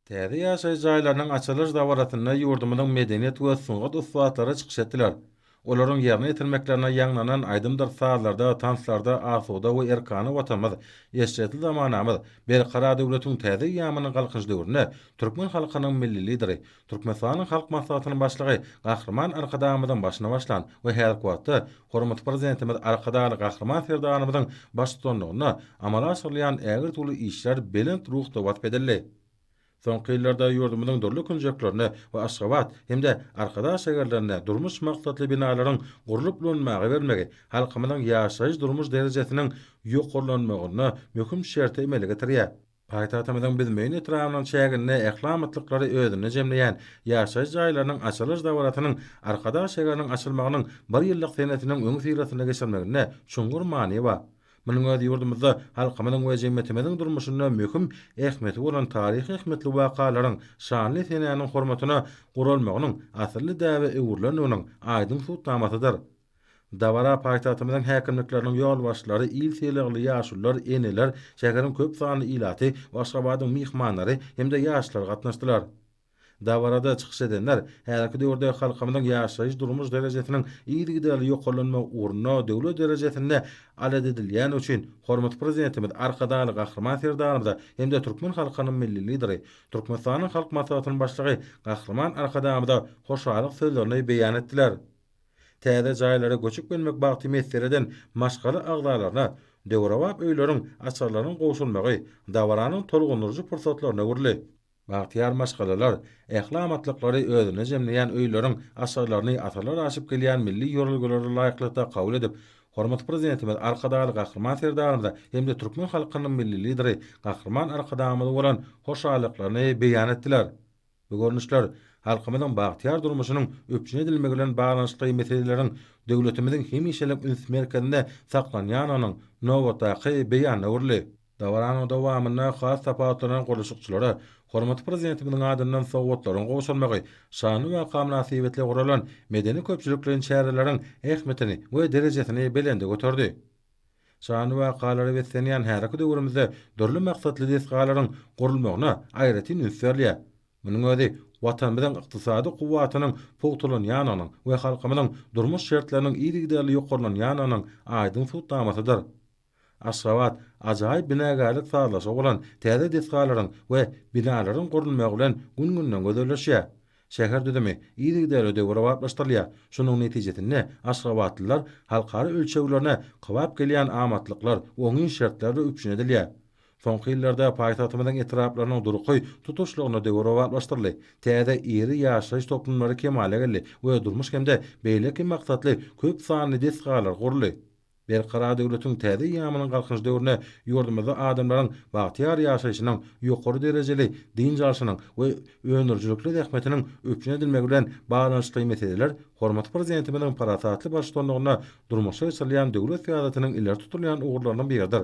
Täze ýaşaýyş jaýlarynyň açylyş dabarasynda ýurdumyzyň medeniýet we sungat ussatlary çykyş etdiler. Olaryň ýerine ýetirmeklerine ýaňlanan aýdymdyr sazlarda, tanslarda asuda we erkana Watanymyz, eşretli zamanamyz, berkarar döwletiň täze eýýamynyň Galkynyş döwründe türkmen halkynyň Milli Lideri, Türkmenistanyň Halk Maslahatynyň Başlygy Gahryman Arkadagymyzyň başyny başlan we häzirki wagtda hormatly Prezidentimiz Arkadagly Gahryman Serdarymyzyň baştutanlygynda amala aşyrylýan ägirt-uly işler belent ruhda wasp edildi. Soňky ýyllarda ýurdumyzyň dürli künjeklerinde we Aşgabat hem-de Arkadag şäherlerinde durmuş maksatly binalaryň gurlup ulanmaga bermegi halkymyzyň ýaşaýyş-durmuş derejesiniň ýokarlanmagyna möhüm şerti emele getirýär. Paýtagtymyzyň Büzmeýin etrabynyň çäginde ähli amatlyklary özünde jemleýän ýaşaýyş jaýlarynyň açylyş dabarasynyň Arkadag şäheriniň açylmagynyň bir ýyllyk senesiniň öňüsyrasynda geçirilmeginde çuňňur many bar. Munuň özi ýurdumyzda halkymyzyň we jemgyýetimiziň durmuşynda möhüm ähmiýeti bolan taryhy ähmiýetli wakalaryň şanly senäniň hormatyna guralmagynyň asylly däbe öwrülendiginiň aýdyň subutnamasydyr. Dabara paýtagtymyzyň häkimlikleriniň ýolbaşçylary, il sylagly ýaşulular, eneler, şäheriň köp sanly ilaty, Aşgabadyň myhmanlary hem-de ýaşlar gatnaşdylar. Dabarada çykyş edenler häzirki döwürde halkymyzyň ýaşaýyş-durmuş derejesiniň yzygiderli ýokarlanmagy ugrunda döwlet derejesinde alat edilýäni üçin hormatly Prezidentimiz Arkadagly Gahryman Serdarymyza hem-de türkmen halkynyň Milli Lideri, Türkmenistanyň Halk Maslahatynyň Başlygy Gahryman Arkadagymyza hoşallyk sözlerini beýan etdiler. Täze jaýlara göçüp gelmek bagty messer eden maşgala agzalaryna döwrebap öýleriň açarlarynyň gowşurylmagy dabaranyň tolgundyryjy pursatlaryna öwrüldi. Bagtyýar maşgalalar ähli amatlyklary özünde jemleýän öýleriň açarlaryny asyrlar aşyp gelýän milli ýörelgelere laýyklykda kabul edip, hormatly Prezidentimiz Arkadagly Gahryman Serdarymyza hem-de türkmen halkynyň Milli Lideri Gahryman Arkadagymyza bolan hoşallyklaryny beýan etdiler. Bu görnüşler halkymyzyň bagtyýar durmuşynyň üpjün edilmegi bilen baglanyşykly meseleleriň döwletimiziň hemişelik üns merkezinde saklanýandygynyň nobatdaky beýanyna öwrüldi. Dabaranyň dowamynda has tapawutlanan gurluşykçylara hormatly Prezidentimiziň adyndan sowgatlaryň gowşurmagy, şanly waka mynasybetli guralan medeni-köpçülikleýin çäreleriň ähmiýetini we derejesini belende göterdi. Şanly wakalara beslenýän häzirki döwrümizde dürli maksatly desgalaryň gurulmagyna aýratyn üns berilýär. Munuň özi Watanymyzyň ykdysady kuwwatynyň pugtalanýandygynyň we halkymyzyň durmuş şertleriniň yzygiderli ýokarlanýandygynyň aýdyň subutnamasydyr. Aşgabat ajaýyp binagärlik sazlaşygy bolan täze desgalaryň we binalaryň gurulmagy bilen gün-günden gözelleşýär. Şäher düzümi yzygiderli döwrebaplaşdyrylýar. Şonuň netijesinde aşgabatlylar halkara ölçeglerine kybap gelýän amatlyklar, oňyn şertlerdir üpjün edilýär. Soňky ýyllarda paýtagtymyzyň etraplarynyň durky tutuşlygyna döwrebaplaşdyryldy, täze iri ýaşaýyş toplumlary kemala geldi we durmuş hem-de beýleki maksatly köp sanly desgalar guruldy. Berkarar döwletiň täze eýýamynyň Galkynyş döwründe ýurdumyzda adamlaryň bagtyýar ýaşaýşynyň, ýokary derejeli dynç alşynyň we öndürijilikli zähmetiniň üpjün edilmegi bilen baglanyşykly meseleler hormatly Prezidentimiziň parasatly baştutanlygynda durmuşa geçirilýän döwlet syýasatynyň ileri tutulýan ugurlarynyň biridir.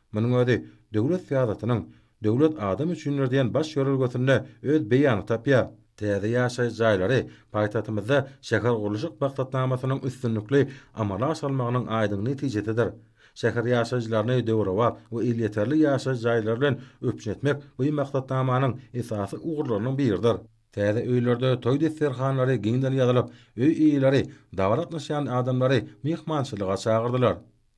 Munuň özi döwlet syýasatynyň Döwlet adam üçindir diýen baş ýörelgesinde öz beýanyny tapýar. Täze ýaşaýyş jaýlary paýtagtymyzda şähergurluşyk maksatnamasynyň üstünlikli amala aşyrylmagynyň aýdyň netijesidir. Şäher ýaşaýjylaryny döwrebap we elýeterli ýaşaýyş jaýlary bilen üpjün etmek bu maksatnamanyň esasy ugurlarynyň biridir. Täze öýlerde toý desterhanlary giňden ýazylyp, öý eýeleri dabara gatnaşýan adamlary myhmançylyga çagyrdylar.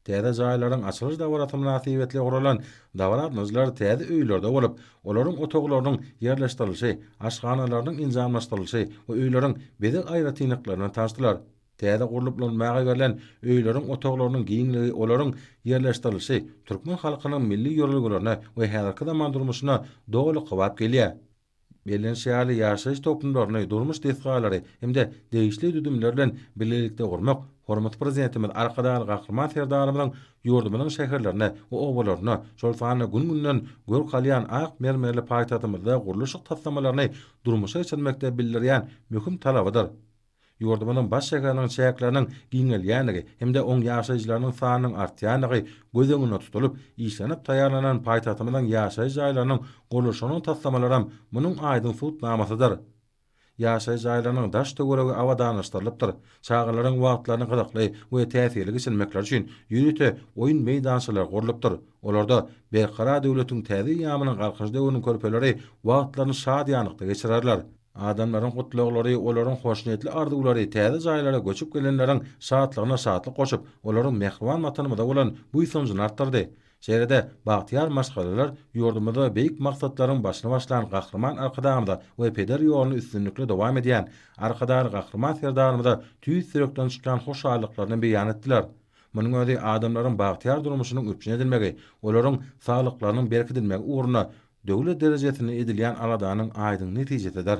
Täze jaýlaryň açylyş dabarasy mynasybetli guralan dabara-atmajlar täze öýlerde bolup, olaryň otaglarynyň ýerleşdirilişi, aşhanalarynyň enjamlaşdyrylyşy we öýleriň bezeg aýratynlyklary bilen tanyşdylar. Täze gurlup ulanmaga berlen öýleriň otaglarynyň giňligi, olaryň ýerleşdirilişi türkmen halkynyň milli ýörelgelerine we häzirki zaman durmuşyna doly kybap gelýär. Bellenişi ýaly, ýaşaýyş toplumlaryny, durmuş desgalary hem-de degişli düzümler bilen bilelikde gurmak hormatly Prezidentimiz Arkadagly Gahryman Serdarymyzyň ýurdumyzyň şäherlerine we obalaryna, şol sanda gün-günden görk alýan ak mermerli paýtagtymyzda gurluşyk taslamalaryny durmuşa geçirmekde bildirýän möhüm talabydyr. Ýurdumyzyň baş şäheriniň çäkleriniň giňelýändigi hem-de oň ýaşaýjylarynyň sanynyň artýandygy göz öňünde tutulyp, işlenip taýýarlanan paýtagtymyzyň ýaşaýyş jaýlarynyň gurluşygynyň taslamalaram munuň aýdyň subutnamasydyr. Ýaşaýyş jaýlarynyň daş-töweregi abadanlaşdyrylypdyr, çagalaryň wagtlaryny gyzykly we täsirli geçirmekleri üçin ýörite oýun meýdançalary gurlupdyr, olarda Berkarar döwletiň täze eýýamynyň Galkynyş döwrüniň körpeleri wagtlaryny şadyýanlykda geçirerler. Adamlaryň gutlaglary, olaryň hoşniýetli arzuwlary täze jaýlara göçüp gelenleriň şatlygyna şatlyk goşup, olaryň mähriban Watanymyza bolan buýsanjyny artdyrdy. Şeýle-de, bagtyýar maşgalalar ýurdumyzda beýik maksatlaryň başyny başlan Gahryman Arkadagymyza we peder ýoluny üstünlikli dowam edýän Arkadagly Gahryman Serdarymyza tüýs ýürekden çykýan hoşallyklaryny beýan etdiler. Munuň özi adamlaryň bagtyýar durmuşynyň üpjün edilmegi, olaryň saglyklarynyň berkidilmegi ugrunda Döwlet derejesinde edilýän aladanyň aýdyň netijesidir.